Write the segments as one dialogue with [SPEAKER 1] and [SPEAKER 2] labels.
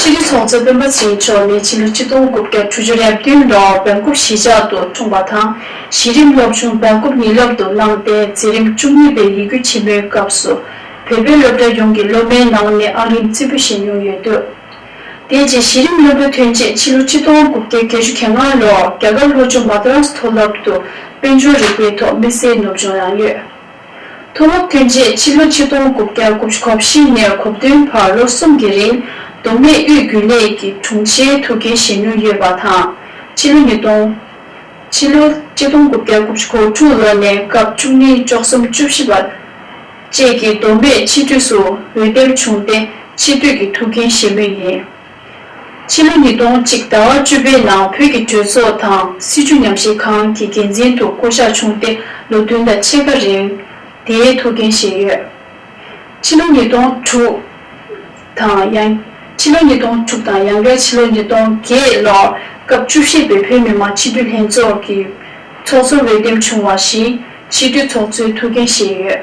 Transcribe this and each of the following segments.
[SPEAKER 1] ཕྱི་དྲིལ་ཚོགས་གཙོ་སྤེན་པ་ཚེ་རིང་མཆོག་ནི་ཕྱི་ལོ་གཅིག་སྟོང་དགུ་བརྒྱ་དྲུག་ཅུ་ཡར་བདུན་ལོར་བོན་སྐུ་གཞིས་ཆགས་དུ་འཁྲུངས་པ་དང་གཞི་རིམ་སློབ་ཆུང་བོན་སྐུ་ཉིད་ལམ་དུ་བླངས་ཏེ་འཛིན་རིམ་བཅུ་གཉིས་པའི་ཡིག་རྒྱུགས་ཆེན་མོའི་སྐབས་སུ་བོད་པའི་སློབ་གྲྭ་ཡོངས་ཀྱི་སློབ་མའི་ནང་ནས་ཨང་རིམ་རྩིས་པོ་བཞེས་མྱོང་ཡོད་འདུག་དེ་རྗེས་གཞི་རིམ་བློན་པོ་ཐོན་རྗེས་ཕྱི་ལོ་གཅིག་སྟོང་དགུ་བརྒྱ་བརྒྱད་ཅུ་གྱ་ལྔ་ལོར་རྒྱ་གར་ལྷོ་ཕྱོགས་མཱ་ཏ་རཱས་མཐོ་སློབ་ཏུ་དཔལ་འབྱོར་རིག་པའི་ཐོག་དམིགས་བསལ་ནུབ་སྦྱོང་གནང་ཡོད། མཐོ་སློབ་ཐོན་རྗེས་ཕྱི་ལོ་ཆིག་སྟོང་དགུ་བརྒྱ་དགུ་བཅུ་གོ་བཞི་ནས་གོ་བདུན་བར་ལོ་གསུམ་གྱི་རིང་མདོ་སྨད་དབུས་རྒྱུན་ལས་ཀྱི་དྲུང་ཆེའི་ཐུགས་འགན་བཞེས་མྱོང་ཡོད་པ་དང། ཕྱི་ལོ་ཉིས་སྟོང། ཕྱི་ལོ་གཅིག་སྟོང་དགུ་བརྒྱ་དགུ་བཅུ་གོ་དྲུག་ལོ་ནས་སྐབས་བཅུ་གཉིས་བཅུ་གསུམ་བཅུ་བཞི་བར་བཅས་ཀྱི་མདོ་སྨད་ཕྱི་དུས་སུ་འོས་འདེམས་བྱུང་སྟེ་ཕྱི་དུས་ཀྱི་ཐུགས་འགན་བཞེས་མུས་ཡིན། ཕྱི་ལོ་ཉིས་སྟོང་གཅིག་ཟླ་བ་བཅུ་པའི་ནང་བོད་ཀྱི་གྲོས་ཚོགས་དང་སྲིད་བྱུས་ཉམས་བཞེས་ཁང་གི་འགན་འཛིན་དུ་བསྐོ་གཞག་བྱུང་སྟེ་ལོ་བདུན་དང་ཕྱེད་ཀ་རིང་དེའི་ཐུགས་འགན་བཞེས་ཡོད། ཕྱི་ལོ་ཉིས་སྟོང་དྲུག་དང་ཡང་ཕྱི་ལོ་ཉིས་སྟོང་དྲུག་དང་ཡང་བསྐྱར་ཕྱི་ལོ་ཉིས་སྟོང་བརྒྱད་ལོར་སྐབས་བཅུ་བཞི་པའི་བོད་མི་མང་ཕྱི་སྡོད་ལྷན་ཚོགས་ཀྱི་ཚོགས་གཙོར་འོས་འདེམས་བྱུང་བ་བཞིན་ཕྱི་སྡོད་ཚོགས་གཙོའི་ཐུགས་འགན་བཞེས་ཡོད།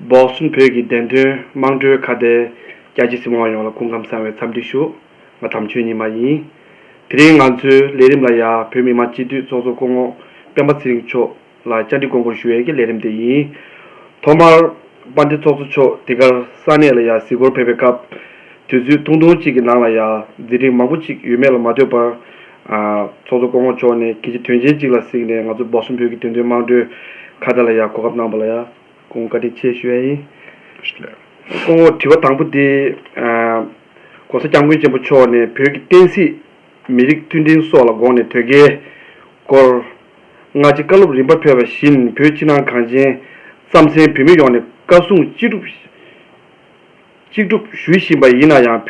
[SPEAKER 2] འབོག་གསུམ་བོད་ཀྱི་བདེན་དོན་དམངས་ཁྲོད་ཁ་བརྡའི་རྒྱ་ཆེ་སྲིད་དབང་ཡོངས་ལ་སྐུ་ཁམས་བཟང་བའི་འཚམས་འདྲི་ཞུ། ང་དམ་ཆོས་ཉི་མ་ཡིན། དེ་རིང་ང་ཚོའི་ལས་རིམ་ལ་ཡ་བོད་མི་མང་སྤྱི་འཐུས་ཚོགས་གཙོ་སྐུ་ངོ་སྤེན་པ་ཚེ་རིང་མཆོག་ལ་བཅར་འདྲི་དགོངས་བསྐུར་ཞུ་ཡས་ཀྱི་ལས་རིམ་དེ་ཡིན། ཐོག་མར་དཔའ་འདི་ཚོགས་གཙོ་མཆོག་དེ་གར་ས་གནས་ལ་ཡ་གཟིགས་སྐོར་ཕེབས་པའི་སྐབས། དུས་ཚོད་ཐུང་ཐུང་གཅིག་གི་ནང་ལ་ཡ་མཛད་འཕྲིན་མང་པོ་གཅིག་ཡོད་མེད་ལ་མ་ལྟོས་པར། ཚོགས་གཙོ་སྐོང་འོག་མཆོག་ནས་ཁྱེད་ཀྱི་དོན་ཆེན་གཅིག་ལ་གཟིགས་ནས་ང་ཚོ་འབའ་སུ་བོད་ཀྱི་དོན་དོན་དམངས་ཁྲོད་ཁ་བརྡ་ལ་ཡག་གོ་སྐབས་གནང་པ་ལ་ཡག་སྐོང་བཀའ་དྲིན་ཆེ་ཞུ་ཡ་ཡིན། སྐོང་འོག་དྲི་བ་དང་པོ་འདི། ྋགོང་ས ྋསྐྱབས་མགོན་ཆེན་པོ་མཆོག་ནས་བོད་ཀྱི་བསྟན་སྲིད། མི་རིགས་མཐུན་སྒྲིལ་སོགས་ལ་དགོངས་ནས་དོལ་རྒྱལ། སྐོར། སྔ་ཕྱི་བཀའ་སློབ་རིམ་པ་ཕེབས་པ་བཞིན་བོད་ཕྱི་ནང་གངས་ཅན། རྩམ་གཟན་བོད་མི་ཡོངས་ནས་བཀའ་སྲུང་ཅི་སྒྲུབ། གཅིག་སྒྲུབ་ཞུ་བཞིན་པ་ཡིན་ན་ཡང་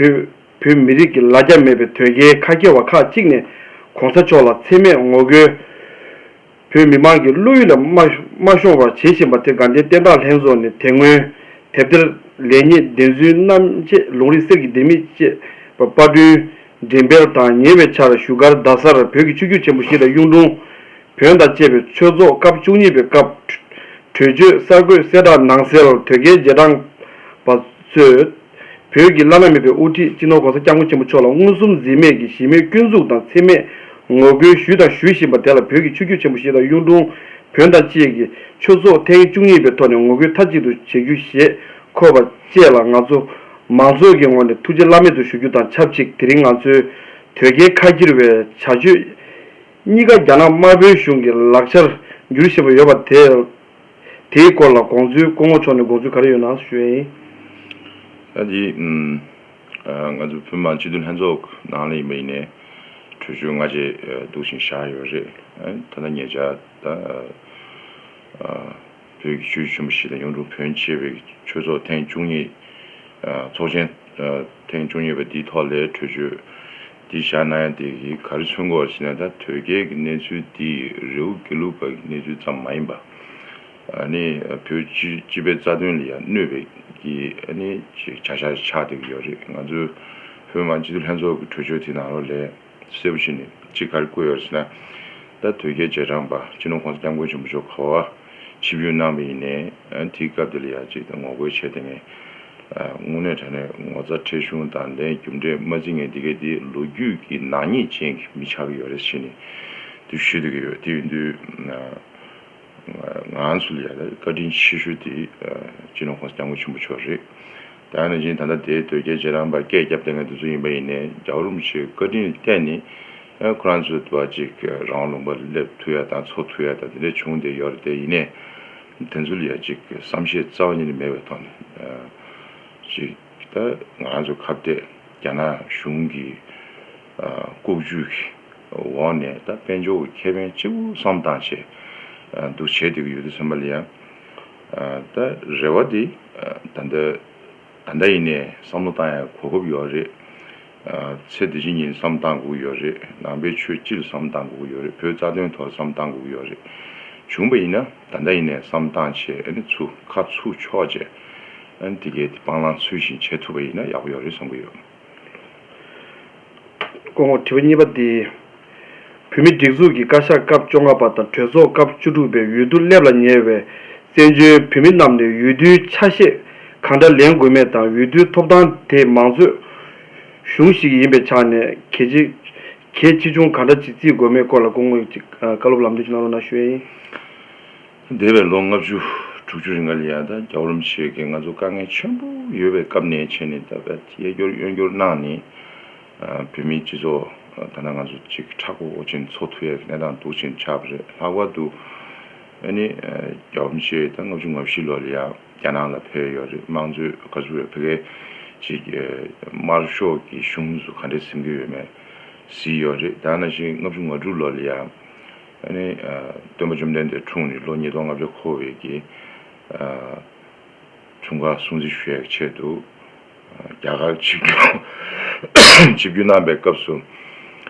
[SPEAKER 2] བོད་མི་རིགས་ཀྱི་ལ་རྒྱ་མེད་པའི་དོལ་རྒྱལ་ཁ་རྒྱལ་བ་ཁག་ཅིག་ནས་གོང་ས་མཆོག་ལ་འཚེ་མེད་ངོ་རྒོལ། བོད་མི་མང་གི་བློ་ཡུལ་ལ་མ་ཤོང་བར་བྱེད་བཞིན་པ་དེ་དགའ་ལྡན་བསྟན་བདག་ལྷན་ཚོགས་ནས་དེ་སྔོན་དེབ་ཐེར་ལེགས་ཉེས་བདེན་རྫུན་རྣམ་དཔྱད་ལུང་རིགས་གསེར་གྱི་ལྡེ་མིག་ཅེས་པ་དཔར་བསྐྲུན་འགྲེམས་སྤེལ་དང་ཉེ་བའི་ཆར་བཞུགས་སྒར་རྡ་སར་བོད་ཀྱི་ཆུ་རྒྱུད་ཆེན་པོ་བཞི་དང་གཡུང་དྲུང་བོན་དང་བཅས་པའི་ཆོས་ཚོགས་སྐབས་བཅུ་གཉིས་པའི་སྐབས། གྲོས་ཆོད་གསར་འགོད་གསལ་བསྒྲགས་ནང་གསལ་དོད་རྒྱལ་རྗེས་འབྲང་པ་གཙོས། བོད་ཀྱི་བླ་ན་མེད་པའི་དབུ་ཁྲིད་སྤྱི་ནོར་གོང་ས་སྐྱབས་མགོན་ཆེན་པོ་མཆོག་ལ་མངོན་སུམ་འཛིན་མེད་ཀྱི་ཞི་མོལ་སྐྱོན་འཛུགས་དང་འཚེ་མེད་ངོ་རྒོལ་ཞུས་དང་ཞུ་བཞིན་པ་དེ་ལ་བོད་ཀྱི་ཆོས་བརྒྱུད་ཆེན་པོ་བཞི་དང་གཡུང་དྲུང་བོན་དང་བཅས་ཀྱི་ཆོས་ཚོགས་ཐེངས་བཅུ་གཉིས་པའི་ཐོག་ནས་ངོ་རྒོལ་མཐའ་གཅིག་ཏུ་བྱེད་རྒྱུ་ཞེས་འཁོད་པ་བཅས་ལ་ང་ཚོ་མང་ཚོགས་ཀྱི་ངོས་ནས་ཐུགས་རྗེ་བླ་མེད་དུ་ཞུ་རྒྱུ་དང་ཆབས་ཅིག་དེ་རིང་ང་ཚོའི་དོལ་རྒྱལ་ཁ་ཁྱེར་བའི་བྱ་སྤྱོད། གཉིས་ཀ་རྒྱ་ནག་དམར་པོའི་གཞུང་གི་ལག་ཆར་འགྱུར་བཞིན་པ་ཡོད་པ་དེ། དེའི་སྐོར་ལ་དགོངས་ཚུལ་སྐུ་ངོ་མཆོག་ནས་དགོངས་ཚུལ་ག་རེ་ཡོད་ནང་ཞུ་ཡིན།
[SPEAKER 3] ཨ་ཏི། ང་ཚོ་བོད་མང་སྤྱི་འཐུས་ལྷན་ཚོགས་ནང་ལ་ཡིན་པ་ཡིན་ནས་གྲོས་ཆོད་སྔ་རྗེས་བསྡུ་བཞིན་བཞག་ཡོད་རེད། ད་ལྟ་ངེད་ཅག་དང། བོད་ཀྱི་ཆོས་བརྒྱུད་ཆེན་པོ་བཞི་དང་གཡུང་དྲུང་བོན་ཆེ་བའི་ཆོས་ཚོགས་ཐེངས་བཅུ་གཉིས། ཚོགས་ཆེན་ཐེངས་བཅུ་གཉིས་པ་འདིའི་ཐོག་ལས་གྲོས་ཆོད། འདི་ཞྭ་ན་ཡ་དེ་གིས་གར་ཆོད་མགོ་བར་ཕྱིན་ན་ད་དོལ་རྒྱལ་གྱི་གནས་ཚུལ་འདི་རེའུ་དགེ་ལུགས་པ་གྱི་གནས་ཚུལ་ཙམ་མ་ཡིན་པ། ནི་བོད་སྤྱི་པའི་རྩ་དོན་ལ་ཡང་གནོད་པའི་ནི་བྱ་བཞག་ཅིག་ཆགས་བསྡད་ཀྱི་ཡོད་རེད་ང་ཚོའི་བོད་མང་སྤྱི་འཐུས་ལྷན་ཚོགས་ཀྱི་གྲོས་ཆོད་དེ་ནང་རོ་ལས་གསལ་པོ་ཞིག་ནི་གཅིག་གར་བཀོད་ཡོད་རེད་ཟེར་ན། ད་དོལ་རྒྱལ་རྗེས་འབྲང་པ་སྤྱི་ནོར་ཁོང་ས་སྐྱབས་མགོན་ཆེན་པོ་མཆོག་ག་བ། ཕྱི་བོའི་ནང་བའི་ཡིན། དེའི་སྐབས་དེ་ལ་ཡང་གཅིག་དང་ངོ་རྒོལ་བྱས་ཏེ་མེད། དངོས་གནས་དྲ་གནས་ངོ་ཚ་ཁྲེལ་གཞུང་དང་ལྡན་རྒྱུ་འབྲས་སྨྲ་འཛིན་ངན་དེ་གས་དེ་ལོ་རྒྱུས་ཀྱི་ནག་ཉེས་ཅན་གྱི་མི་ཆགས་ཀྱི་ཡོད་རེད་ཞེས་ནི་དུ་ཞུ་འདོད་ཀྱི་ཡོད་དེ་ཡིན་དུས། ང་ཚོ་ལ་ཡང་བཀའ་དྲིན་ཆེ་ཤོས་དེ་སྤྱི་ནོར་ཁོང་སྐྱབས་མགོན་ཆེན་པོ་མཆོག་རེད། དེ་ཡང་ནི་ཇིན་ད་ལྟ་དེའི་དོལ་རྒྱལ་རྗེ་རང་པ་སྐད་སྐྱབས་ལྡན་ངའི་འདུན་ཚོགས་ཡིན་པ་ཡིན་ནས་རྒྱ་གར་རུམ་ཆེའི་བཀའ་དྲིན་ལྟས་ནི། ཁོ་རང་ཚོའི་དུ་བ་གཅིག་རང་ལུང་པར་སླེབས་ཐུབ་ཡ་དང་འཚོ་ཐུབ་ཡ་དང་དེ་འདྲའི་བྱུང་བསྡད་ཡོད་རེད་དེ་ཡིན་ནས་དེ་ཚོ་ལ་ཡང་ཅིག་བསམ་ཤེས་རྩ་བ་ཉིད་ནས་མེད་པའི་ཐོག་ནས་ཅིག་ད་ང་རང་ཚོ་ཁ་བརྡས་རྒྱ་ནག་གཞུང་གི་ལྐོག་ཇུས་ཀྱི་འོག་ནས་ད་དཔལ་འབྱོར་གྱི་ཁེ་ཕན་གཅིག་པུ་བསམ་སྟངས་ཆེད་དུ་བྱེད་བསྡད་ཀྱི་ཡོད་དུས་ཚང་མ་ལ་ཡང་ད་རེ་བ་དེ་ད་ལྟ་ཡིན་ནས་བསམ་བློ་བཏང་ཡ་གོ་སྐབས་ཡོད་རེད། ཚེ་འདི་བཞིན་ཉིན་བསམ་བཏང་སྒུག་ཡོད་རེད་ནང་པའི་ཆོས་སྤྱིར་བསམ་བཏང་སྒུག་ཡོད་རེད་བོད་རྩ་དོན་ཐོག་བསམ་བཏང་སྒུག་ཡོད་རེད་བྱུང་བ་ཡིན་ན་ད་ལྟ་ཡིན་ནས་བསམ་བཏང་བྱས་ཨ་ནི་ཚུ་ཁ་ཚུ་ཆོག་བྱས་ཨ་ནི་དེ་གའི་དེ་སྤང་བླང་ཚུལ་བཞིན་བྱས་ཐུབ་པ་ཡིན་ན་ཡག་པོ་ཡོད་རེད་བསམ་གི་ཡོད། དཀོན་
[SPEAKER 2] མཆོག་དྲི་བ་གཉིས་པ་འདི། བོད་མིའི་སྒྲིག་འཛུགས་ཀྱི་བཀའ་ཤག་སྐབས་བཅོ་ལྔ་པ་དང་གྲོས་ཚོགས་སྐབས་བཅུ་དྲུག་པའི་འོས་བསྡུ་སླེབས་ལ་ཉེ་བའི་བཙན་བྱོལ་བོད་མི་རྣམས་ནས་འོས་བསྡུའི་ཆ་ཤས་གང་འདྲ་ལེན་དགོས་མེད་དང་འོས་བསྡུའི་ཐོབ་ཐང་དེ་མང་གཙོའི་གཞུང་ཞིག་ཡིན་པའི་ཆ་ནས་གལ་ཆེ་གལ་ཆེ་ཆུང་གང་འདྲ་ཅིག་བརྩི་དགོས་མེད་སྐོར་ལ་སྐུ་ངོས་ཀྱིས་བཀའ་སློབ་ལམ་སྟོན་གནང་རོགས་གནང་ཞུ་ཡས་ཡིན།
[SPEAKER 3] འདས་པའི་ལོ་ལྔ་བཅུ་དྲུག་ཅུ་རིང་ག་ལི་ཡ་དང་རྒྱ་རོམ་ཞིག་གིས་ང་ཚོར་དཀའ་ངལ་ཆེན་པོ་ཡོད་པའི་སྐབས་ནས་བྱས་ནས་ད་བར་གཡས་སྐྱོར་གཡོན་སྐྱོར་གནང་ནས། བོད་མིའི་སྤྱི་ཚོགས་ཐ་ན་ང་ཚོ་གཅིག་ཁྲག་ཁོག་དབུགས་ཆེན་འཚོ་ཐུབ་ཡ་གི་གནས་སྟངས་འདུག་ཅེས་ཆགས་པ་རེད་ལྷག་པར་དུ་ཨ་ནི་རྒྱ་བོམ་ཆེ་ད་ལྔ་བཅུ་ང་བཞི་ལོ་ལ་ཡང་རྒྱ་ནང་ལ་ཕེབས་ཡོད་རེད་དམངས་གཙོའི་བཀའ་ཟུར་བའི་ཕི་ཀའི་ཅིག་དམར་ཤོག་གི་གཞུང་སུ་ག་འདྲའི་སེམས་ཁུར་ཡོད་མེད་གཟིགས་ཡོད་རེད་ད་ན་བཞིན་ལྔ་བཅུ་ང་དྲུག་ལོ་ལ་ཡང་ཨ་ནི་སྟོན་པ་བཅོམ་ལྡན་འདས་འཁྲུངས་ནས་ལོ་ཉིས་སྟོང་ལྔ་བརྒྱ་འཁོར་བའི་གི། མཚོ་འགག་སྲུང་བརྩི་ཞུ་ཡག་ཆེད་དུ། རྒྱ་གར་ཆིབས་བསྒྱུར་གནང་པའི་སྐབས་སུ།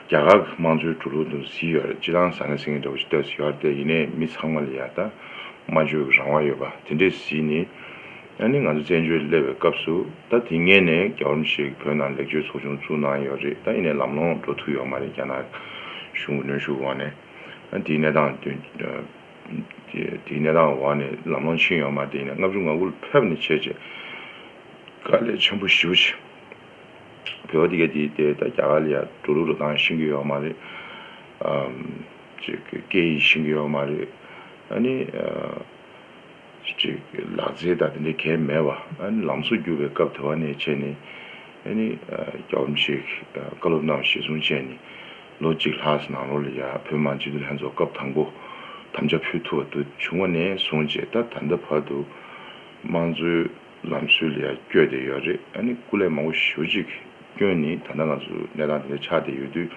[SPEAKER 3] རྒྱ་གར་གྱི་དམངས་གཙོའི་འགྲོ་ལུགས་དང་གཟི་ཡར་སྤྱི་དང་ས་གནས་སེང་གེ་འདྲ་བོ་ཞིག་བཏབ་ཟིན་ཡོད་རྟེ་ཡིན་ནའི་མི་ཚང་མ་ལ་ཡ་ད་སྨྲ་བརྗོད་ཀྱི་རང་དབང་ཡོད་པ་དེ་འདྲའི་གཟི་ནི། ཡང་ནི་ང་ཚོ་བཙན་བྱོལ་སླེབས་པའི་སྐབས་སུ་ད་དེ་ངེས་ནས་རྒྱ་གོར་མི་ཞིག་བོད་ནང་ལེགས་བཅོས་ཚོགས་ཆུང་བཙུགས་གནང་ཡོད་རེད་ད་ཡིན་ནའི་ལམ་ལྷོང་འགྲོ་ཐུབ་ཡོད་མ་རེད་རྒྱ་ནག་གཞུང་གི་གནོན་ཤུགས་འོག་ནས་ད་དེའི་གནས་སྟངས་དོན་དེའི་གནས་སྟངས་འོག་ནས་ལམ་ལྷོང་ཆེན་ཡོང་མ་དེ་ནས་ལྔ་བཅུ་ང་དགུ་ལ་ཕེབས་ནས་བྱས་རྗེས་དཀའ་ལས་ཆེན་པོ་ཞུ་བྱས། བོད་པ་དེ་ག་དེའི་ལྟས་ད་རྒྱ་གར་ལ་ཡང་འགྲོ་ལུགས་རོ་ཐང་ཤིང་གི་ཡོག་མ་རེད། སྐད་ཡིག་ཤིང་གི་ཡོག་མ་རེད། ཨ་ནི། ལག་རྩལ་དང་དེ་འདྲའི་གལ་མེད་པ་ཨ་ནི་ལམ་སྲོལ་བསྒྱུར་བའི་སྐབས་དེ་བ་ནས་བྱས་ནས་ཨ་ནི། རྒྱ་བོད་མི་ཆོས་ཀྱི་བཀའ་སློབ་རྣམས་གཞི་བཟུང་བྱས་ནས། ལོ་གཅིག་ལྷག་ནང་ལོགས་ལ་ཡང་བོད་དམངས་སྤྱི་འཐུས་ལྷན་ཚོགས་སྐབས་དང་པོ་དམ་བཅའ་ཕུལ་ཐུབ་པ་དུ་བྱུང་བ་ནས་བཟུང་རྗེས་ད་ད་ལྟ་བར་དུ་དམངས་གཙོའི་ལམ་སྲོལ་ལ་ཡང་བསྐྱོད་བསྡད་ཡོད་རེད་ཨ་ནི་སྐུ་ལས་མང་པོ་ཞུ་རྒྱུ་གི་སྐྱོན་ནི་ད་ལྟ་ང་ཚོ་གནས་སྟངས་དེ་འདྲ་ཆགས་བསྡད་ཡོད་དུས་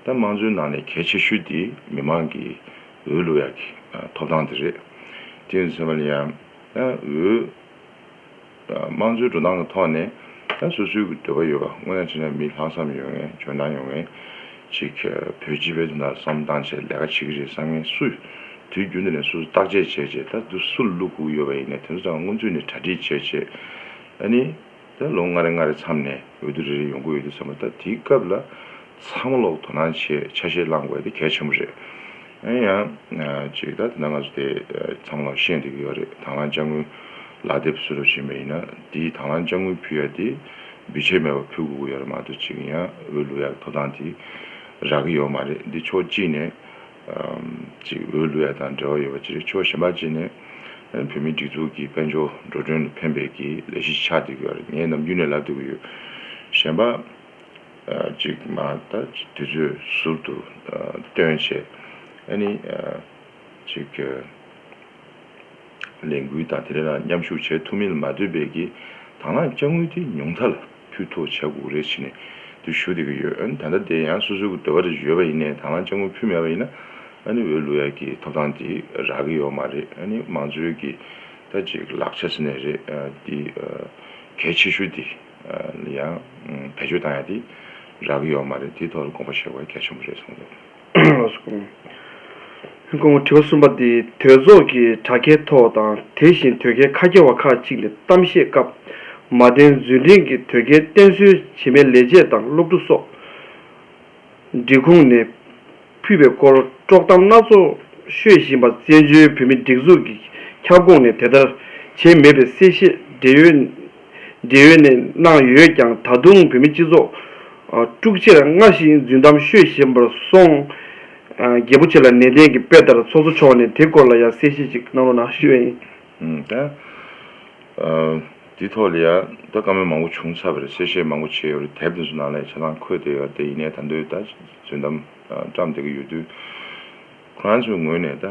[SPEAKER 3] ད་དམངས་གཙོའི་ནང་ནས་གལ་ཆེ་ཤོས་དེ་མི་མང་གི་འོས་བླུགས་ཡག་གི་ཐོབ་ཐང་དེ་རེད་དེ་ཡིན་ཚོད་མ་ལ་ཡང་ད་འོས། དམངས་གཙོའི་འགྲོ་སྟངས་ཀྱི་ཐོག་ནས་ད་སོ་སོའི་འདོད་པ་ཡོད་པ་དངོས་ཡང་བྱས་ན་མི་ལྷག་བསམ་ཡོད་ངེས་འཇོན་ཐང་ཡོད་ངེས། ཅིག་བོད་སྤྱི་བའི་དོན་དང་བསམ་བཏང་བྱས་ལས་ཀ་བྱེད་ཀྱི་རེད་བསམ་ངེས་སུ། དུས་རྒྱུན་དུ་ནས་སོ་སོ་བརྟག་དཔྱད་བྱས་བྱས་ད་དུ་སུ་ལ་བླུགས་ཁུག་ཡོད་པ་ཡིན་ནས་དེ་ཚོ་དང་སྔོན་ཚུད་ནས་གྲ་སྒྲིག་བྱས་བྱས་ཨ་ནི། ད་ལོ་ལྔ་རེ་ལྔ་རེ་མཚམས་ནས་འོས་བསྡུ་རེ་རེ་ཡོང་གི་འོས་བསྡུ་བསམ་པ་ད་དེའི་སྐབས་ལ་ཚང་མ་ལོག་དོ་སྣང་བྱེད་ཆ་ཤས་བླངས་དགོས་དེ་གལ་ཆེན་པོ་རེད། ཨེ་ཡང། ཅིག་ད་དེ་འདྲ་ང་ཚོ་དེ་ཚང་མ་ལ་བཤད་འདོད་ཀྱི་ཡོད་རེད་དྭང་བླངས་དཔྱ་དངུལ་ལག་དེབ་བཟོས་རོགས་བྱེད་མེད་ཡིན་ན་དེའི་དྭང་བླངས་དཔྱ་དངུལ་ཕུལ་ཡ་དེ་འབུལ་ཆད་མེད་པ་ཕུལ་དགོས་ཀྱི་ཡོད་རེད་མ་གཏོགས་ཅིག་ཡང་འོས་བླུག་ཡག་ཐོབ་ཐང་དེ་རག་གི་ཡོད་མ་རེད་འདི་ཕྱོགས་གཅིག་ནས། ཅིག་འོས་བླུག་ཡ་དང་འབྲེལ་བ་ཡོད་པ་ཅིག་རེད་ཕྱོགས་གཞན་པ་གཅིག་ནས། བོད་མིའི་སྒྲིག་འཛུགས་ཀྱི་དཔལ་འབྱོར་འགྲོ་གྲོན་ལ་ཕན་འབེལ་གྱི་ལས་གཞི་ཆགས་འདོད་ཀྱི་ཡོད་རེད་ངས་ནམ་རྒྱུན་ནས་ལབ་འདོད་ཀྱི་ཡོད། གཞན་པ། ཅིག་མ་ད་དུས་ཚོད་ཟུར་དུ་སྟོན་བྱས་ཨ་ནི། ཅིག། ལས་འགུལ་དང་དེ་རིང་ལ་མཉམ་ཞུགས་བྱེད་ཐུབ་མིན་ལ་མ་ལྟོས་པའི་གིས་དང་བླངས་དཔྱ་དངུལ་དེ་ཉུང་མཐའ་ལ་ཕུལ་ཐོག་བྱ་འགུག་རེ་བྱེད་ནས་དུ་ཞུ་བསྡད་ཀྱི་ཡོད་ཨ་ནི། ད་ལྟ་དེ་ཡང་སོ་སོའི་གི་འདོད་པ་རེ་ཡོད་པ་ཡིན་ནས་དང་བླངས་དཔྱ་དངུལ་ཕུལ་མེད་པ་ཡིན་ན་ཨ་ནི་འོས་བླུགས་ཡ་གིས་ཐོབ་ཐང་དེ་རག་གི་ཡོད་མ་རེད་ཨ་ནི། མང་གཙོའི་གིས་ད་ཅིག་ལག་ཆ་ཟེར་ནས་རེད་དེ། གལ་ཆེ་ཤོས་དེ། ལ་ཡང་བེད་སྤྱོད་བཏང་ཡ་དེ་རག་གི་ཡོད་མ་རེད་དེའི་ཐོག་ལ་དགོངས་པ་བཞེས་དགོས་གལ་ཆེན་པོ་རེད་གསུངས་འདུག་ཁོང་དྲི་བ་གསུམ་པ་དེ་དོལ་ཚོགས་ཀྱི་དྲ་རྒྱའི་ཐོག་དང་དེ་བཞིན་དོལ་རྒྱལ་ཁ་རྒྱ་བ་ཁག་གཅིག་ནས་གཏམ་བཤད་སྐབས་མ་བསྟན་རྫུན་འབྲིང་གི་དོལ་རྒྱལ་བསྟེན་གསོལ་བྱེད་མའི་ལས་བྱེད་དང་སློབ་ཕྲུག་སོགས། སྒྲིག་ཁུངས་ནས་ཕུད་པའི་སྐོར་དཀྲོག་གཏམ་སྣ་ཚོགས་ཤོད་བཞིན་པ་བཙན་བྱོལ་བོད་མིའི་སྒྲིག་འཛུགས་ཀྱི་ཁྱབ་ཁོངས་ནས་དེ་ལྟར་བྱས་མེད་པའི་གསལ་བཤད་འབྲེལ་ཡོད་འབྲེལ་ཡོད་ནས་གནང་ཡོད་ཀྱང་ད་དུང་བོད་མི་སྤྱི་ཚོགས་དཀྲུག་ཕྱིར་སྔར་བཞིན་རྫུན་གཏམ་ཤོད་བཞིན་པར་སོང། རྒྱལ་པོ་ཆེ་ལ་ནན་ཏན་གྱིས་དཔེ་ལྟར་ཚོགས་གཙོ་མཆོག་ནས་དེ་སྐོར་ལ་ཡང་གསལ་བཤད་ཅིག་གནང་རོགས་གནང། དེའི་ཐོག་ལ་ཡང་ད་བཀའ་མོལ་མང་པོ་བྱུང་ཚར་བ་རེད་གསལ་བཤད་མང་པོ་བྱས་ཡོད་རེད་དེབ་དེ་ཚོ་ནང་ལ་ཡང་ཆ་ཚང་འཁོད་བསྡད་ཡོད་དེ་ཡིན་ནས་ད་འདོད་ད་རྫུན་གཏམ་བཀྲམ་བསྡད་ཀྱི་ཡོད་དུས། ཁོ་རང་ཚོའི་ངོས་ནས་ད་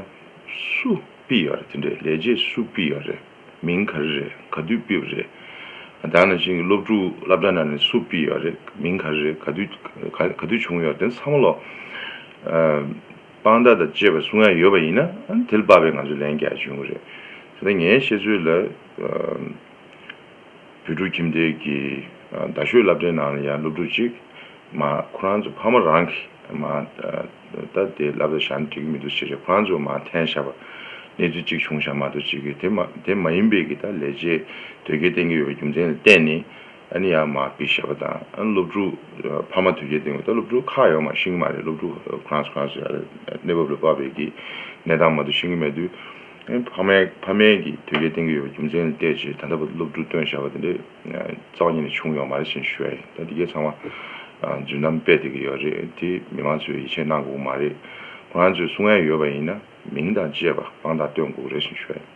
[SPEAKER 3] སུ་དཔེ་ཡག་རེད་དེ་འདྲས་ལས་རྗེས་སུ་དཔེ་ཡག་རེད་མིང་ག་རེ་རེད་ག་དུས་དཔེ་བ་རེད་ད་ནང་བཞིན་གྱི་སློབ་ཕྲུག་བསླབ་གྲྭ་ནང་ནས་སུ་དཔེ་ཡག་རེད་མིང་ག་རེ་རེད་ག་དུས་བྱུང་ཡོད་རེད་དེ་ཚོ་ཚང་མ་ལོ། དཔང་རྟགས་དང་བཅས་པ་སུ་འང་ཡོད་པ་ཡིན་ན་དེ་ལ་དཔག་པའི་ང་ཚོས་ལན་བརྒྱ་འབྱུང་གི་རེད། དེ་ལྟར་ངའི་ཤེས་ཚོད་ལ། བོད་ཕྲུག་ཁྱིམ་སྡེ་གི་རྡ་ཤོད་བླ་བྲེ་ནང་ལ་ཡང་སློབ་ཕྲུག་ཅིག། མ་ཁོ་རང་ཚོ་ཕ་མ་རང་གིས་མ་ད་དེ་བླ་བྲེ་བཞག་ན་འགྲིག་གི་མི་འདུག་ཞེས་ཞེས་ཁོ་རང་ཚོས་མ་འཐེན་བཞག་པ། གནས་ཚུལ་ཅིག་བྱུང་བཞག་མ་གཏོགས་ཅིག་གིས་དེ་མ་དེ་མ་ཡིན་པའི་གི་ད་ལས་རྗེས་ཟློས་སྐྱེལ་བསྟན་གི་ཡོད་པའི་རྒྱུ་མཚན་ལ་བརྟེན་ནས། ཨ་ནི་ཡ་མ་བི་ཤ་པ་དང་སློབ་ཕྲུག་ཕ་མ་དུས་བརྒྱད་སྟེང་བ་ད་སློབ་ཕྲུག་ཁ་ཡོག་མ་ཤེས་གི་མ་རེད་སློབ་ཕྲུག་ཁྲང་ཁྲང་སུ་ཡ་རེད་གནས་བབ་ལ་དཔག་པའི་གི་གནས་སྟངས་མ་དུ་ཤེས་གི་མེད་དུས་ཕ་མའི་ཕ་མའི་གི་དུས་བརྒྱད་སྟེང་གི་ཡོད་པ་རྒྱུ་མཚན་ལ་བལྟས་རྗེས་ད་ལྟ་བ་ད་སློབ་ཕྲུག་སྟོན་བཞག་པ་དེ་འདྲས་རྩ་བ་ཉིད་ནས་བྱུང་ཡོག་མ་རེད་བཞིན་ཞུ་ཡ་ཡིན་ད་འདི་གས་ཚང་མ་རྫུན་གཏམ་དཔེ་བལྟས་གི་ཡོད་རེད་དེ་མི་མང་ཚོས་ཡིད་ཆེས་གནང་དགོས་གི་མ་རེད་ཁོ་རང་ཚོས་སུ་ངས་ཡོད་པ་ཡིན་ན་མིང་དང་བཅས་པ་དཔང་རྟགས་སྟོན་དགོས་གི་རེད་བཞིན་ཞུ་ཡ་ཡིན།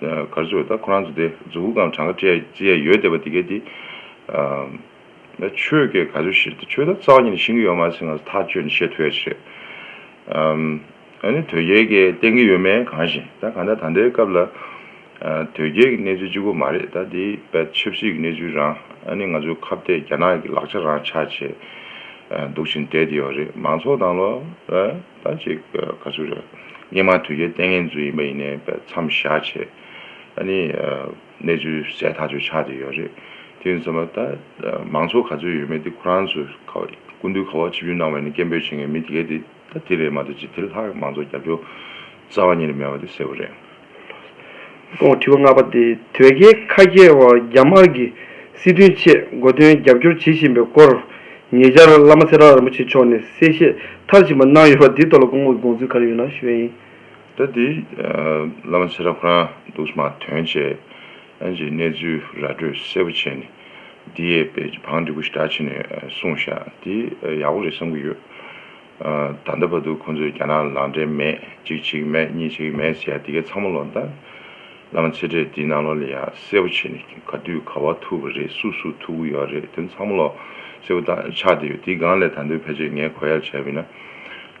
[SPEAKER 3] གར་ཚོས་ད་ཁོ་རང་ཚོ་དེ་རྫུ་བུ་གང་གྲངས་ཀ་སྤྲད་ཅི་ཡས་ཡོད་བསྡད་པ་དེ་གས་དེ། ད་ཁྱོད་གས་ག་ཚོད་ཤེས། ཁྱོད་ད་རྩ་བ་ཉིད་ནས་ཤེས་ཀྱི་ཡོད་མ་ཚད་ང་ཚོ་ཐག་གཅོད་ནས་ཤེས་ཐུ་ཡས་ཤེས། ཨཱ་ནི་དོལ་རྒྱལ་གས་བསྟན་གྱི་ཡོད་མེད་གང་ཞེན་ད་གང་ལྟར་ད་ལྟའི་སྐབས་ལ། དོལ་རྒྱལ་གྱི་གནས་ཚུལ་ཅིག་པོ་མ་རེད་ད་དེ་བས་ཆབ་སྲིད་ཀྱི་གནས་ཚུལ་རང་ཨཱ་ནི་ང་ཚོའི་ཁ་བཏད་རྒྱ་ནག་གྱི་ལག་ཆ་རང་ཆགས་བྱས་འདུག་བཞིན་བསྡད་དེ་ཡོད་རེད་མང་ཚོགས་དང་ལོ། ལྟ་ཅི་དགའ་ཚུལ་རེད། སྙན་མང་དུས་བརྒྱའི་ལྟས་ངན་རྫུན་ཡིན་པ་ཡིན་ནའི་པའི་མཚམས་བཞག་ཆེད། ཨ་ནི། གནས་ཚུལ་གསལ་ཐག་ཆོད་ཆགས་ཏེ་ཡོད་རེད། དེ་ཡིན་ཚོད་མ་ལྟ། མང་ཚོགས་ག་ཚོད་ཡོད་མེད་དེ་ཁོ་རང་ཚོས་སྐུ་མདུན་ཁ་བ་ཆིབས་བསྒྱུར་གནང་བས་ནི་སྐད་འབོད་བྱེད་མཁན་མི་དེ་གས་དེ་ལྟ་དེ་རེད་མ་གཏོགས་ཅི་དེ་ལྷག་མང་ཚོགས་རྒྱབ་སྐྱོར་རྩ་བ་ཉིད་ལས་མེད་པ་དེ་གསལ་བོ་རེད། དྲི་བ་ལྔ་
[SPEAKER 2] པ། དོལ་རྒྱལ་ཁ་རྒྱལ་བ་རྒྱ་དམར་གྱི་སྲིད་དོན་ཆེད་མགོ་འདོན་རྒྱབ་སྐྱོར་བྱེད་བཞིན་པའི་སྐོར་ཉེ་ཆར་བླ་མ་ཚེ་བྲག་རིན་པོ་ཆེ་མཆོག་ནས་གསལ་བཤད་མཐར་ཕྱིན་པ་གནང་ཡོད་པ་དེའི་ཐོག་ལ་སྐུ་ངོ་གི་དགོངས་ཚུལ་ག་རེ་ཡོད་ན་ཞུ་བ་ཡིན། ད་དེ་
[SPEAKER 3] བླ་མ་ཚེ་བྲག་ཁོ་རང་འདུག་སྨྲ་དོན་བཅས་ཀྱི་གནས་ཚུལ་ར་སྤྲོད་གསལ་པོ་བྱས་ནས་འདིའི་བེད་སྤང་འདི་ཀུ་ཤྲི་ཏྲ་བྱས་ནས་གསུངས་ཤག་དེ་ཡག་པོ་རེད་བསམ་གྱི་ཡོད། ད་ལྟ་བར་དུ་ཁོང་ཚོས་རྒྱ་ནག་ལ་འབྲེལ་མེད་གཅིག་བྱེད་མེད་གཉིས་བྱེད་མེད་ཟེར་ཡ་དེ་གས་ཚང་མ་ལོག་ལྟ། བླ་མ་ཚེ་འཕྲེད་འདི་ནང་ལོག་ལ་ཡ་གསལ་བོ་བྱེད་ནས་ག་དུས་ག་བ་ཐུག་པ་རེད་སུ་སུ་ཐུག་གི་ཡོད་རེད་དོན་ཚང་མ་ལོག་གསལ་བོ་ལྟ་ཆགས་བསྡད་ཡོད་དེ་སྒང་ལས་ད་འདོད་ཕལ་ཆེར་ངས་གོ་ཡར་བྱས་བས་ན།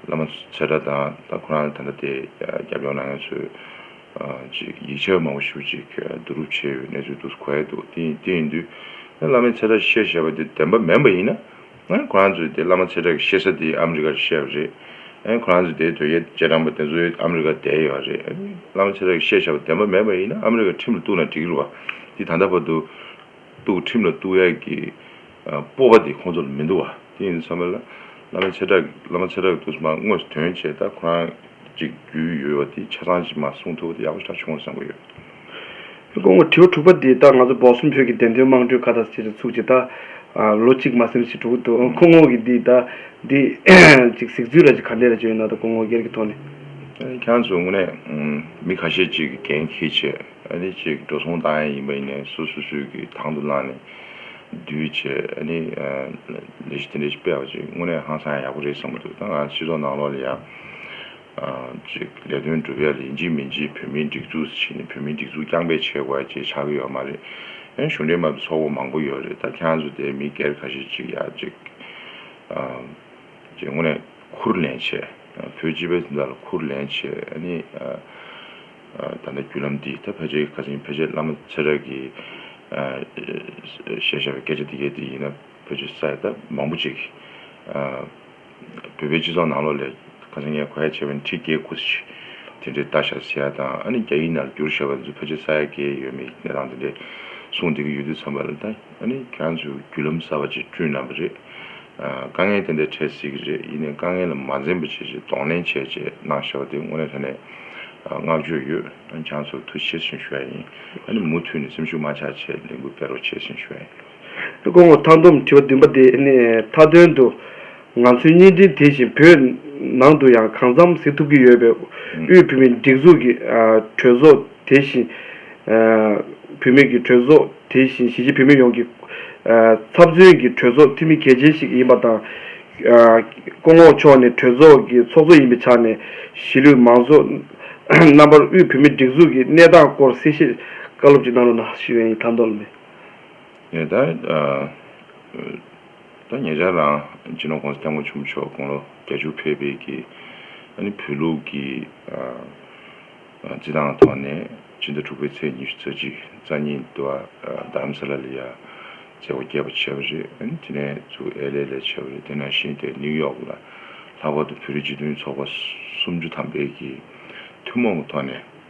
[SPEAKER 3] བླ་མ་ཚེ་འཕྲ་དང་ད་ཁོ་རང་ལ་ད་ལྟ་དེ་རྒྱབ་ཡོང་ན་ང་ཚོས་ཅིག་ཡིག་ཆ་མང་བོ་ཞུ་ཅིག་བསྡུ་རུབ་བྱས་ཡོད་གནས་ཚུལ་འདུག་གོ་ཡས་འདུག་དེ་ཡིན་དུས། བླ་མའི་ཚེ་འཕྲ་ཤེས་བྱས་པ་དེ་བདེན་པ་མེན་པ་ཡིན་ན་ཁོ་རང་ཚོའི་དེ་བླ་མ་ཚེ་བཀྲ་གི་གཤེགས་ས་དེ་ཨ་མི་རི་ཀ་རུ་གཤེགས་པ་རེད། ཁོ་རང་ཚོའི་དེའི་དོལ་རྒྱལ་རྗེས་འབྲང་པ་དེ་ཚོ་ཨ་མི་རི་ཀར་བསྡད་ཡོད་རེད། བླ་མ་ཚེ་བཀྲ་གི་གཤེགས་བྱ་བ་བདེན་པ་མེད་པ་ཡིན་ན་ཨ་མི་རི་ཀར་ཁྲིམས་ལ་གཏུགས་ན་འགྲིག་རུང་བ་དེ་ད་ལྟ་བར་དུ། གཏུགས་ཁྲིམས་ལ་གཏུགས་ཡག་གི་སྤོབས་པ་དེ་ཁོང་ཚོ་ལ་མི་འདུག་བ་དེ་ཡིན་ཚང་མས་བླ་མ་ཚེ་བཀྲ་གི་བླ་མ་ཚེ་བཀྲ་གི་གཏུགས་སོ་མ་དངོས་སུ་དོན་བྱས་ད་ཁོ་རང་གཅིག་རྒྱུས་ཡོད་བ་དེ་ཆ་ཚང་ཞིག་མ་གསུངས་ཐུབ་བ་དེ་ཡག་པོ་ཞིག་ད་བྱུང་བ་བསམ་གྱི་ཡོད།
[SPEAKER 2] དགོང་མོ་དྲི་བ་དྲུག་པ་འདི་ལྟར་ང་ཚོ་འབོག་སུམ་བོད་ཀྱི་བདེན་དོན་དམངས་ཁྲོད་ཁ་བརྡ་ཅེས་རུ་ཚུགས་ཀྱི་ད་ལོ་གཅིག་མ་སེམས་ཞེ་དྲུག་འདུག་ཁོ་ངོ་གིས་འདི་ད་འདི་ཅིག་གཟིགས་ཚུལ་ར་ཅིག་ག་འདྲས་ར་བྱོས་ཡོད་ན་ད་ཁོ་ངོ་སྒེར་གྱི་ཐོག་ནས། ཁྱང་ཚོ་དངོས་
[SPEAKER 3] གནས་མི་ཁ་ཤས་ཅིག་གི་འགན་ཁྱི་བྱས་ཨ་ནི་ཅིག་འགྲོ་སོང་བཏང་ཡས་ཡིན་པ་ཡིན་ནས་སུ་སུ་སུ་གིས་དང་དུ་བླངས་ནས་བསྡུས་བྱས་ཨ་ནི་ལས་གཞི་དེ་འདྲས་ཤིག་སྤེལ་བ་ཅིག་དངོས་གནས་ཧང་སང་ཡག་པོ་རེད་བསམ་པ་འདུག་ད་ང་ཚོ་སྤྱི་ཚོགས་ནང་ལོགས་ལ་ཡང། གཅིག་ལས་དོན་སྒྲུབ་ཡ་ལས་འཇིགས་མི་འཇིགས་བོད་མིའི་སྒྲིག་འཛུགས་བྱས་ནས་བོད་མིའི་སྒྲིག་འཛུགས་རྐྱང་པས་བྱས་དགོས་ཡ་ཅེས་ཆགས་ཀྱི་ཡོད་མ་རེད་ཡང་གཞུང་འབྲེལ་མ་དུ་ཚོགས་པ་མང་པོ་ཡོད་རེད་ད་ཁྱེད་རང་ཚོ་དེ་མི་སྒེར་ཁ་ཤས་གཅིག་ཡ་གཅིག་ཅེས་ངོ་ནས་འཁུར་ལེན་བྱས་བོད་སྤྱི་པའི་འདི་དག་ལ་འཁུར་ལེན་བྱས་ཨ་ནི་ད་ལྟ་བརྒྱུད་ལམ་འདི་ད་ཕལ་ཆེར་གྱི་ཁ་ཆེམས་ཕལ་ཆེར་བླ་མ་ཚེ་བཀྲ་གིས་བཤད་བཞག་པའི་སྐད་ཆ་འདི་གའི་འདི་ཡིན་ན་ཕལ་ཆེར་ས་ཡ་ད་མང་པོ་ཅིག་བོད་པའི་སྤྱི་ཚོགས་ནང་ལོ་ལེགས་ག་ཚོད་ངས་གོ་ཡ་བྱས་པ་ནི་ཁྲི་བརྒྱད་སྐུ་ཚེ་དེ་འདྲའི་བལྟ་ཤག་ཟེར་ཡ་དང་ཨ་ནི་རྒྱ་ཡིག་ནར་འགྱུར་ཤག་བ་ཚོ་ཕལ་ཆེར་ས་ཡ་གས་ཡོད་མེད་ཀྱི་གནས་སྟངས་དེ་འདྲས་གསུངས་བསྡད་ཀྱི་ཡོད་དུས་ཚང་པ་ལ་ད་ཨ་ནི་ཁྱེད་རང་ཚོས་བརྒྱུད་ལམ་གསར་བ་ཅིག་བསྐྲུན་གནང་པ་རེད། དཀའ་ངལ་དེ་འདྲས་འཕྲད་སྲིད་ཀྱི་རེད་ཡིན་ནས་དཀའ་ངལ་ལ་མ་འཛེམ་པ་བྱེད་ཅེས་གདོང་ལེན་བྱས་བྱས་གནང་ཤག་བ་དེ་དངོས་གནས་ད་ནས་བསྔགས་བརྗོད་ཡོད་ཨ་ནི་ཁྱེད་རང་ཚོར་ཐུགས་ཆེར་ཞེན་ཞུ་ཡ་ཡིན་ཨ་ནི་མུ་མཐུད་ནས་སེམས་ཤུགས་མ་ཆག་ཆེད་ལས་འགུལ་སྤེལ་རོགས་ཆེད་ཞེན་ཞུ་ཡ་ཡིན། སྐུ་ངོ་
[SPEAKER 2] མཐའ་འདོམས་དྲི་བ་བདུན་པ་དེ་ནི་མཐའ་དོན་དུ་ང་ཚོའི་བརྙན་འཕྲིན་དེ་བཞིན་བོད་ནང་དུ་ཡང་གང་འཚམ་གཟིགས་ཐུབ་ཀྱི་ཡོད་པའི་དབུས་བུད་མེད་སྒྲིག་འཛུགས་ཀྱི་གྲོས་ཚོགས་དེ་བཞིན་བུད་མེད་ཀྱི་གྲོས་ཚོགས་དེ་བཞིན་གཞིས་བྱེས་བུད་མེད་ཡོངས་ཀྱི་ཚབ་མཚོན་གྱི་གྲོས་ཚོགས་འཐུས་མི་གལ་ཆེན་ཞིག་ཡིན་པ་དང། སྐུ་ངོ་མཆོག་ནི་གྲོས་ཚོགས་ཀྱི་ཚོགས་གཙོ་ཡིན་པའི་ཆ་ནས་གཞིས་ལུས་མང་ཚོགས་རྣམ་པར་དབུས་བུད་མེད་སྒྲིག་འཛུགས་ཀྱི་གནས་སྟངས་སྐོར་གསལ་བཤད་བཀའ་སློབ་ཅིག་གནང་རོགས་གནང། ཞུས་ཡོད་ཡིན་མཐའ་འདོམས་ལས།
[SPEAKER 3] ཉེ་ཆར་རང་སྤྱི་ནོར ྋགོང་ས ྋསྐྱབས་མགོན་ཆེན་པོ་མཆོག་དགུང་ལོ་གྱ་བཅུ་ཕེབས་སྤེལ་གྱིས་བོད་ལུགས་ཀྱི་རྩིས་ཐང་ཐོག་ནས་སྤྱི་ཟླ་དྲུག་པའི་ཚེས་ཉི་ཤུ་རྩ་གཅིག་རྩ་གཉིས་དུ་བ་དྷརྨ་སཱ་ལཱ་ལི་ཡཱ་མཛད་སྒོ་རྒྱས་པ་བྱས་པ་རེད། དེ་ནས་བཙུགས་ཨེ་ལས་ལས་བྱས་པ་རེད། དེ་ནང་བཞིན་ཏེ་ནིའུ་ཡོག་ལ་ལྷག་པར་དུ་བོད་རིགས་སྤྱི་མཐུན་ཚོགས་པ་སུམ་ཅུ་ཐམ་པའི་གྱི་ཐུན་མོང་གི་ཐོག་ནས།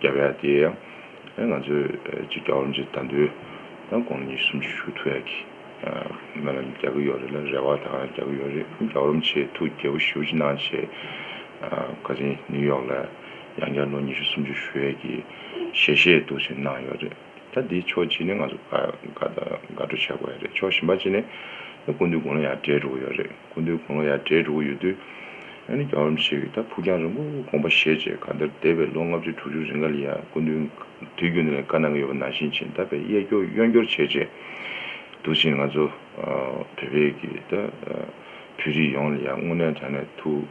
[SPEAKER 3] རྒྱ་བལ་དེ་ཡང་ང་ཚོས་གཅིག་རྒྱ་འོམ་ཅིག་དར་མདོའི་དགོངས་ཉིད་གསུམ་ཆུ་ཤུར་ཐུ་ཡག་གི་མེ་ལ་རྒྱག་གི་ཡོད་རེད་ལ་རེ་བ་ད་ང་རྒྱག་གི་ཡོད་རེད་རྒྱ་འོམ་ཆེས་ཐུ་རྒྱལ་པོ་ཞི་བ་ཅི་གནང་བྱས་བཀའ་དྲིན་ནིའུ་ཡོག་ལ་ཡང་བསྐྱར་ལོ་ཉི་ཤུ་སུམ་ཅུ་ཞུ་ཡས་ཀྱི་ཞལ་བཞེས་གཏུགས་ཆེན་གནང་ཡོད་རེད། ད་འདི་ཕྱོགས་གཅིག་ནས་ང་ཚོ་དགའ་སྤྲོ་བྱ་དགོས་ཡ་རེད་ཕྱོགས་གཞན་པ་གཅིག་ནས་ཀུན་འདུས་དགུང་ལོ་ཡར་སྦྲེལ་འགྲོ་གི་ཡོད་རེད་ཀུན་འདུས་དགུང་ལོ་ཡར་སྦྲེལ་འགྲོ་གི་ཡོད་དུས་ཡང་ནི་རྒྱ་རོམ་ཞིག་གིས་ད་ཕུགས་རྒྱང་རིང་པོ་དགོངས་པ་བཞེས་རྗེས་ག་དེར་འདས་པའི་ལོ་ལྔ་བཅུ་དྲུག་ཅུ་རིང་ག་ལི་ཡ་ཀུན་འདུས་དུས་རྒྱུན་དེ་ལས་དཀའ་གནང་གི་ཡོད་པ་ནང་བཞིན་ཕྱིན་ད་བས་གཡས་སྐྱོར་གཡོན་སྐྱོར་བྱས་རྗེས་འདུག་ཕྱིན་ང་ཚོ་བོད་པའི་གིས་ད་བོད་རིགས་ཡོངས་ལ་ཡང་དངོས་གནས་དྲང་གནས་ཐུགས་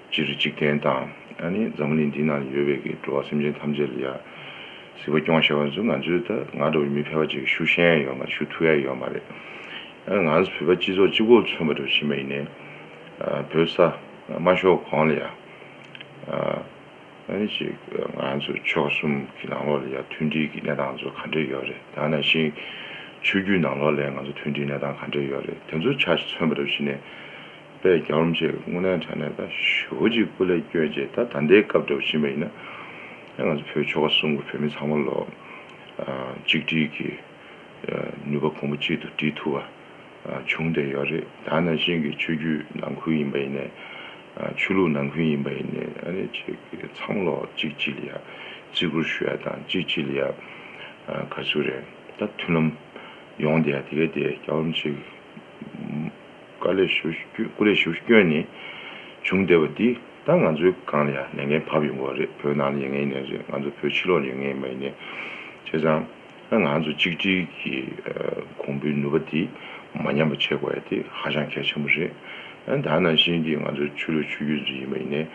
[SPEAKER 3] སྤྱིར་འཇིག་རྟེན་དང། ཨ་ནི་འཛམ་བུ་གླིང་འདི་ན་ཡོད་པའི་གི་འགྲོ་བ་སེམས་ཅན་ཐམས་ཅད་ལ་ཡར། གཟིགས་པ་སྐྱོང་ཤེས་པ་ནི་ཚུ་ང་ཚོའི་ད་ང་འདྲ་བའི་མི་ཕལ་པ་ཅིག་གི་ཤུགས་ཤན་ཡང་ཡོད་མ་རེད་ཤུགས་ཐུ་ཡ་ཡོད་མ་རེད། ཨ་ང་ཚོ་བོད་པ་སྤྱི་ཚོགས་སྤྱི་ཁོག་མཚོན་པ་འདྲ་བོ་ཕྱིན་པ་ཡིན་ནའི། བོད་ས། དམའ་ཤོག་གོང་ལ་ཡར། ཨ་ནི་ཅིག་ང་ཚོ་ཕྱོགས་གསུམ་གི་ནང་ལོགས་ལ་ཡར་མཐུན་སྒྲིལ་གི་གནས་སྟངས་ཚོ་ག་འདྲས་ཡོད་རེད་ད་ན་ཞིག། ཆོས་རྒྱུད་ནང་ལོགས་ལས་ང་ཚོ་མཐུན་སྒྲིལ་གནས་སྟངས་ག་འདྲས་ཡོད་རེད་དེ་ཚོ་ཆ་ཞིག་མཚོན་པ་འདྲ་བོ་ཕྱིན་ནའི། པས་རྒྱང་རིང་ཆེ་བའི་དངོས་གནས་དྲ་གནས་དང་ཞོལ་གྱི་སྐུ་ལས་སྐྱོན་ཅན་དང་ད་ལྟའི་སྐབས་འདྲ་བ་ཕྱིན་པ་ཡིན་ན། ང་ཚོ་བོད་ཆོལ་ཁ་གསུམ་གྱི་བོད་མི་ཚང་མ་ལོ་གཅིག་སྒྲིལ་གྱི་ནུས་པ་གོང་བུ་གཅིག་ཏུ་སྒྲིལ་ཐུབ་པ་བྱུང་བསྡད་ཡོད་རེད་ད་ནང་བཞིན་གྱི་ཆོས་བརྒྱུད་ནང་ཁུལ་ཡིན་པ་ཡིན་ནས་ཆོས་ལུགས་ནང་ཁུལ་ཡིན་པ་ཡིན་ནས་ཨ་རེ་ཆེ་གི་ཚང་མ་ལོ་གཅིག་སྒྲིལ་ཡ་བརྩི་བཀུར་ཞུ་ཡ་དང་གཅིག་སྒྲིལ་ཡ་དགའ་བསུ་རེད་ད་མཐུན་ལམ་ཡོང་བསྡད་ཡ་དེ་གས་དེ་རྒྱང་རིང་ཆེ་གི། བཀའ་ལས་ཞུ་སྐུ་ལས་ཞུ་སྐྱོན་ནི་བྱུང་བསྡད་པ་འདི་ད་ང་ཚོའི་སྒང་ལ་ཡང་ལས་ངན་བབས་ཡོང་གི་རེད་བོད་ནང་ལ་ཡིན་ངེས་ཡིན་ངེས་རེད་ང་ཚོ་བོད་ཕྱི་ལོག་ལ་ཡོད་ངེས་ཡིན་མ་ཡིན་ངེས་བྱས་ཙང་ང་ཚོ་གཅིག་སྒྲིལ་གྱི་གོང་བུའི་ནུས་པ་འདི་མ་ཉམས་པ་བྱེད་དགོས་ཡ་དེ་ཧ་ཅང་གལ་ཆེན་པོ་རེད་ད་ནང་བཞིན་གྱི་ང་ཚོའི་ཆོས་ལུགས་ཆོས་རྒྱུད་ཚོ་ཡིན་མ་ཡིན་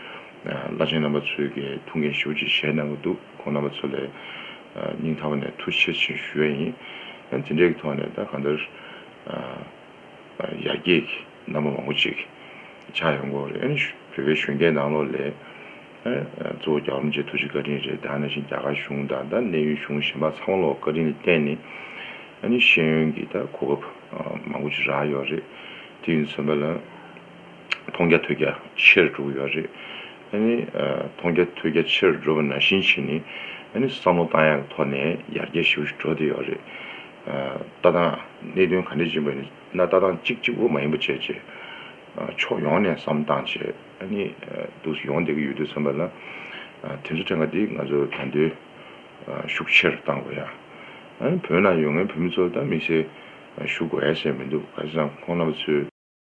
[SPEAKER 3] བླ་ཆེན་རྣམ་པ་ཚོས་གས་ཐུགས་འགན་ཞུ་ཆེ་བཞེས་གནང་གི་འདུག་ཁོང་རྣམ་པ་ཚོ་ལས་སྙིང་ཐག་པ་ནས་ཐུགས་ཆེ་ཆེ་ཞུ་ཡ་ཡིན་དེ་འདྲའི་གི་ཐོག་ནས་ད་གང་ལྟར། ཡར་རྒྱས་ཀྱི་རྣམ་པ་མང་པོ་ཅིག་ཆགས་ཡོང་སྐོར་རེད། བོད་པའི་གཞོན་སྐྱེས་ནང་ལོགས་ལས་གཙོ་བོ་རྒྱ་གར་མཇལ་ཐུག་ཆེད་བཀའ་དྲིན་རེད། དེ་ནང་བཞིན་རྒྱ་གར་གཞུང་དང་གནད་ཡོད་གཞུང་གཞན་པ་ཚང་མ་ལོགས་བཀའ་དྲིན་ལ་བརྟེན་ནས་ཤེས་ཡོན་གྱི་གོ་སྐབས་མང་པོ་ཅིག་རག་ཡོད་རེད། དེ་ཡིན་ཚོད་མེད་ལ་མཐོང་རྒྱ་ཐོས་རྒྱ་ཆེ་རུ་འགྲོ་གི་ཡོད་རེད། མཐོང་རྒྱ་ཐོས་རྒྱ་ཆེ་རུ་འགྲོ་བ་ནང་བཞིན་བྱས་ནས་བསམ་བློ་བཏང་ཡག་གི་ཐོག་ནས་ཡར་རྒྱས་ཞིག་འགྲོ་བསྡད་ཡོད་རེད། ལྟ་སྟངས་གནད་དོན་ག་འདྲས་བྱེད་པ་ནི་ན་ལྟ་སྟངས་གཅིག་གཅིག་པོ་མ་ཡིན་པ་བྱས་རྗེས་ཕྱོགས་ཡོངས་ནས་བསམ་སྟངས་བྱས་ནི་འདུག་སུ་ཡོང་བསྡད་ཀྱི་ཡོད་དུས་བསམ་པ་ལ་དེ་ཚོ་ཕྲན་ག་འདི་ང་ཚོ་དོན་འདོན་ཤུགས་ཆེར་བཏང་དགོས་ཡ་བོད་ནང་ཡོད་ངའི་བོད་མི་ཚོ་ལ་མིག་སེར་ཞུ་དགོས་ཡ་ཞེས་མི་འདུག་ག་ཅི་ཙང་ཁོང་རྣམ་པ་ཚོས།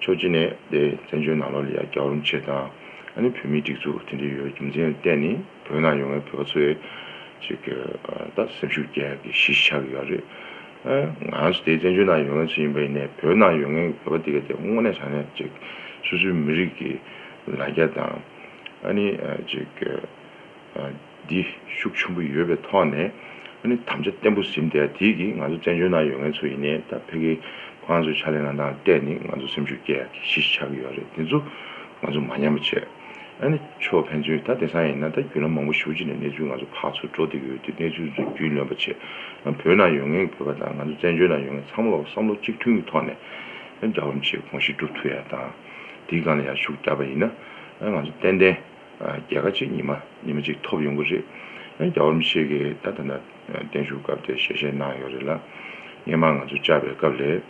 [SPEAKER 3] ཕྱོགས་གཅིག་ནས་དེ་བཙན་བྱོལ་ནང་ལོག་ལ་ཡར་རྒྱག་རུམ་ཆེད་དང། ཨ་ནི་བོད་མིའི་སྒྲིག་འཛུགས་དེ་འདྲའི་ཡོད་རྒྱུ་མཚན་གཏན་ནི་བོད་ནང་ཡོང་བའི་བོད་པ་ཚོའི་ཅིག་ད་སེམས་ཤུགས་རྒྱས་ཀྱི་གཞི་ཆགས་ཡོད་རེད། ང་རང་ཚོ་དེ་བཙན་བྱོལ་ནང་ཡོང་མཁན་ཚོ་ཡིན་པ་ཡིན་ནའི་བོད་ནང་ཡོད་མཁན་གྱི་བོད་པ་དེ་ག་དེ་དངོས་གནས་དྲང་གནས་ཅིག་སོ་སོའི་མི་རིགས་ཀྱི་ལ་རྒྱ་དང། ཨ་ནི་ཅིག། འདི་ཤུགས་ཆེན་པོ་ཡོད་པའི་ཐོག་ནས་ནི་དམ་བཅའ་བརྟན་པོ་ཟིན་བསྡད་དེ་གིས་ང་ཚོ་བཙན་བྱོལ་ནང་ཡོད་མཁན་ཚོ་ཡིན་ནའི་ད་ཕེ་གི་ཁོང་ཚོའི་ཕྱག་ལེན་ལ་ནང་བལྟས་ནི་ང་ཚོ་སེམས་ཤུགས་སྐྱེ་ཡག་གི་གཞི་ཞིག་ཆགས་ཀྱི་ཡོད་རེད་དེ་ཚོ་ང་ཚོ་མ་ཉམས་པ་བྱས་ནི་ཆོག་ཕན་ཚུན་ད་དེ་སང་ཡིན་ན་ད་རྒྱུ་ལམ་མང་པོ་ཞུགས་ཅི་ནས་གནས་ཚུལ་ང་ཚོ་ཕག་ཚོ་འགྲོ་བསྡད་ཀྱི་ཡོད་དུས་གནས་ཚུལ་ཚོ་རྒྱུས་ལོན་པ་བྱས་ན་བོད་ནང་ཡོད་མཁན་གྱི་བོད་པ་དང་ང་ཚོ་བཙན་བྱོལ་ནང་ཡོད་མཁན་ཚང་མ་ལ་བསམ་བློ་གཅིག་མཐུན་གྱི་ཐོག་ནས་འདྲ་བམ་བྱེད་དགོངས་གཞི་སྒྲུབ་ཐུབ་ཡག་དང་དེའི་སྒང་ལ་ཡར་ཞུགས་བསྡད་པ་ཡིན་ན་ང་ཚོ་ཏན་ཏན། རྒྱལ་ཁ་གཅིག་ཉི་མ་ཉི་མ་གཅིག་ཐོབ་ཡོང་གི་རེད། ཡང་རྒྱ་བོར་མི་ཞིག་གིས་ད་ཐ་ན་བརྟན་བཞུགས་སྐབས་དེར་ཞལ་བཞེས་གནང་ཡོད་རེད་ལ། སྔས་མ་ང་ཚོ་བཅར་བའི་སྐབས་ལས།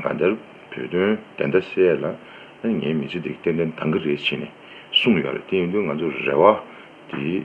[SPEAKER 3] ང་འདིར་བོད་དོན་བདེན་མཐའ་གསལ་ལ། ངའི་མི་ཚེ་འདི་ཏན་ཏན་འདང་གི་རེད་ཅེས་ནས་གསུངས་ཡོད་རེད་དེ་ཡིན་དུས་ང་ཚོ་རེ་བ་དེ།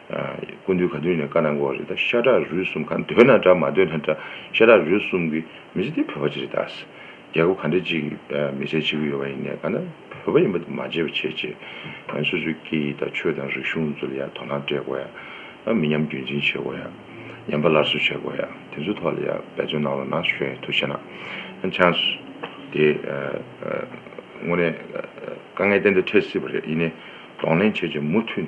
[SPEAKER 3] སྐུ་མདུན་ག་དུས་ནས་བཀའ་གནང་དགོས་བ་རེད་ད་ཤ་ཁྲག་རུས་གསུམ་གང་འདོད་ན་འདྲ་མ་འདོད་ན་འདྲ་ཤ་ཁྲག་རུས་གསུམ་གི་མི་ཚེ་དེ་བོད་པ་ཅི་རེད་ད་རྒྱལ་ཁབ་ག་འདྲ་ཅིག་གི་མི་ཚེ་བྱེད་ཀྱི་ཡོད་བ་ཡིན་ནས་ག་ན་བོད་པ་ཡིན་པ་དེ་མ་བྱེད་བ་བྱེད་ཅེས་སོ་སོའི་སྐད་ཡིག་དང་ཆོས་དང་རིག་གཞུང་ཚོ་ལ་ཡང་དོ་སྣང་སྤྲད་དགོས་ཡ་མི་ཉམས་རྒྱུན་འཛིན་བྱེད་དགོས་ཡ་ཉམས་པ་སླར་གསོ་བྱེད་དགོས་ཡ་དེ་ཚོའི་ཐོག་ལ་ཡང་འབད་བརྩོན་གནང་རོགས་གནང་ཞོས་ཐུགས་ཆེ་གནང་བྱང་དེ་དངོས་གནས་དཀའ་ངལ་གཏན་དུ་འཕྲད་སྲིད་པ་རེད་ཡིན་ནས་གདོང་ལེན་བྱས་རྗེས་མུ་མཐུད།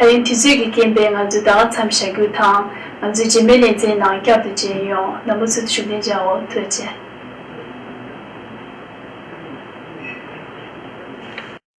[SPEAKER 1] ད་རིང་དུས་ཚོད་ཀྱི་རྐྱེན་པས་ང་ཚོས་ད་ག་ཚམ་བྱ་རྒྱུ་དང་ང་ཚོའི་རྗེས་མའི་ལེ་ཚན་ནང་བསྐྱར་དུ་མཇལ་ཡོང་ན་མུ་མཐུད་དུ་ཤུགས་ལྡན་བྱའོ་ཐུགས་རྗེ།